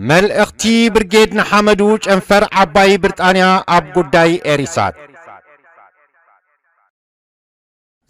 መልእኽቲ ብርጌድ ንሓመዱ ጨንፈር ዓባይ ብርጣንያ ኣብ ጉዳይ ኤሪሳት።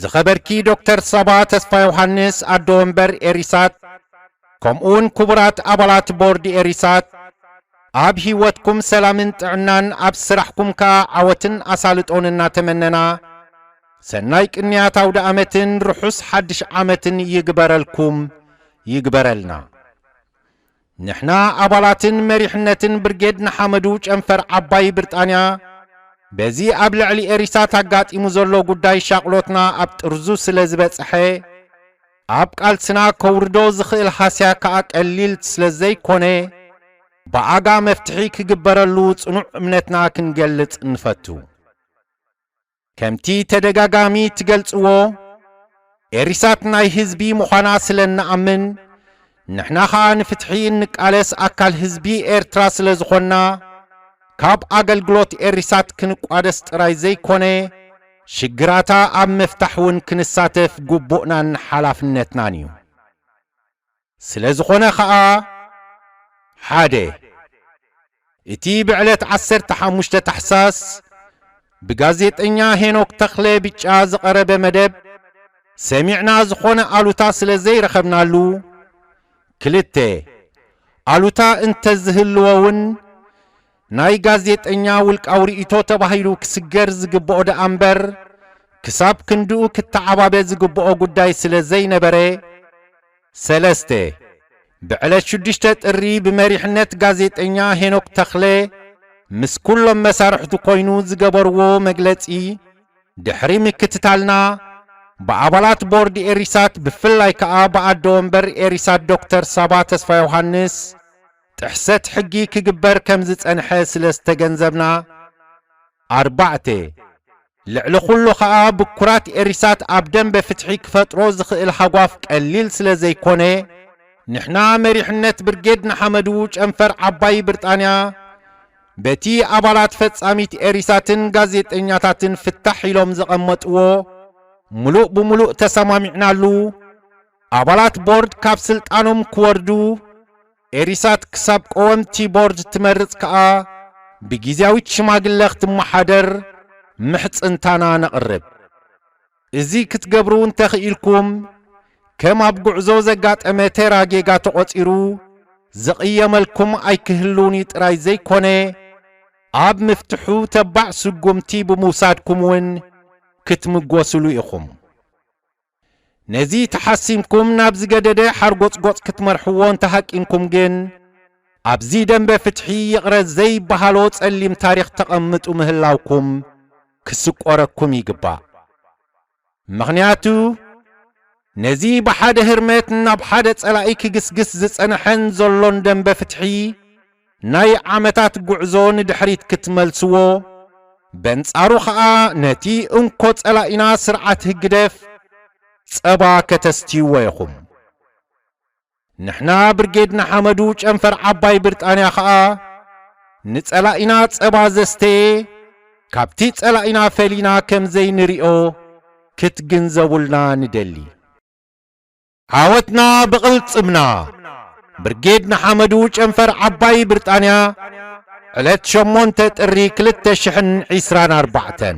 ዝኸበርኪ ዶክተር ሳባ ተስፋዮሃንስ ኣዶ ወንበር ኤሪሳት ከምኡውን ክቡራት ኣባላት ቦርድ ኤሪሳት ኣብ ህይወትኩም ሰላምን ጥዕናን ኣብ ስራሕኩም ከኣ ዓወትን ኣሳልጦን እናተመነና ሰናይ ቅንያት ኣውደ ኣመትን ርሑስ ሓድሽ ዓመትን ይግበረልኩም ይግበረልና። ንሕና ኣባላትን መሪሕነትን ብርጌድ ንሓመዱ ጨንፈር ዓባይ ብርጣንያ በዚ ኣብ ልዕሊ ኤሪሳት ኣጋጢሙ ዘሎ ጉዳይ ሻቕሎትና ኣብ ጥርዙ ስለ ዝበጽሐ ኣብ ቃልስና ከውርዶ ዝኽእል ሃስያ ከኣ ቀሊል ስለ ዘይኮነ ብኣጋ መፍትሒ ክግበረሉ ጽኑዕ እምነትና ክንገልጽ ንፈቱ። ከምቲ ተደጋጋሚ ትገልጽዎ ኤሪሳት ናይ ህዝቢ ምዃና ስለ እንኣምን ንሕና ከኣ ንፍትሒ እንቃለስ ኣካል ህዝቢ ኤርትራ ስለ ዝኾንና ካብ ኣገልግሎት ኤሪሳት ክንቋደስ ጥራይ ዘይኮነ ሽግራታ ኣብ ምፍታሕ እውን ክንሳተፍ ግቡእናን ሓላፍነትናን እዩ። ስለ ዝኾነ ከኣ፣ ሓደ። እቲ ብዕለት ዓሰርተ ሓሙሽተ ታሕሳስ ብጋዜጠኛ ሄኖክ ተኽለ፣ ብጫ፣ ዝቐረበ መደብ ሰሚዕና ዝኾነ ኣሉታ ስለ ዘይረኸብናሉ፣ ክልተ። ኣሉታ እንተዝህልዎ'ውን ናይ ጋዜጠኛ ውልቃዊ ርእይቶ ተባሂሉ ክስገር ዝግብኦ ደኣ እምበር ክሳብ ክንድኡ ክተዓባበ ዝግብኦ ጉዳይ ስለ ዘይነበረ፣ ሰለስተ። ብዕለት ሽዱሽተ ጥሪ ብመሪሕነት ጋዜጠኛ ሄኖክ ተኽለ ምስ ኩሎም መሳርሕቱ ኮይኑ ዝገበርዎ መግለጺ ድሕሪ ምክትታልና ብኣባላት ቦርድ ኤሪሳት ብፍላይ ከኣ ብኣደ ወንበር ኤሪሳት ዶክተር ሳባ ተስፋዮውሃንስ ጥሕሰት ሕጊ ክግበር ከም ዝጸንሐ ስለ ዝተገንዘብና፣ ኣርባዕተ። ልዕሊ ኩሉ ከኣ ብኩራት ኤሪሳት ኣብ ደምበ ፍትሒ ክፈጥሮ ዝኽእል ሃጓፍ ቀሊል ስለ ዘይኮነ፣ ንሕና መሪሕነት ብርጌድ ንሓመዱ ጨንፈር ዓባይ ብርጣንያ በቲ ኣባላት ፈጻሚት ኤሪሳትን ጋዜጠኛታትን ፍታሕ ኢሎም ዘቐመጥዎ ምሉእ ብምሉእ ተሰማሚዕናሉ ኣባላት ቦርድ ካብ ስልጣኖም ክወርዱ፣ ኤሪሳት ክሳብ ቀወምቲ ቦርድ ትመርጽ ከኣ ብጊዝያዊት ሽማግለ ክትመሓደር ምሕጽንታና ነቕርብ። እዚ ክትገብሩ እንተኽኢልኩም፣ ከም ኣብ ጉዕዞ ዘጋጠመ ተራ ጌጋ ተቖጺሩ ዝቕየመልኩም ኣይክህሉን'ዩ ጥራይ ዘይኮነ፣ ኣብ ምፍትሑ ተባዕ ስጉምቲ ብምውሳድኩም'ውን ክትምጎስሉ ኢኹም። ነዚ ተሓሲምኩም ናብ ዝገደደ ሓርጎጽጎጽ ክትመርሕዎ እንተሃቂንኩም ግን፣ ኣብዚ ደምበ ፍትሒ ይቕረ ዘይበሃሎ ጸሊም ታሪኽ ተቐምጡ ምህላውኩም ክስቆረኩም ይግባእ። ምኽንያቱ፣ ነዚ ብሓደ ህርመት ናብ ሓደ ጸላኢ ክግስግስ ዝጸነሐን ዘሎን ደምበ ፍትሒ፣ ናይ ዓመታት ጉዕዞ ንድሕሪት ክትመልስዎ፣ በንጻሩ ከኣ ነቲ እንኮ ጸላኢና ስርዓት ህግደፍ ጸባ ከተስትይዎ ኢኹም። ንሕና ብርጌድ ንሓመዱ ጨንፈር ዓባይ ብርጣንያ ከኣ ንጸላኢና ጸባ ዘስተየ ካብቲ ጸላኢና ፈሊና ከምዘይንሪኦ ክትግንዘቡልና ንደሊ። ዓወትና ብቕልጽምና! ብርጌድ ንሓመዱ ጨንፈር ዓባይ ብርጣንያ ዕለት ሸሞንተ ጥሪ ክልተ ሽሕን ዒስራን ኣርባዕተን።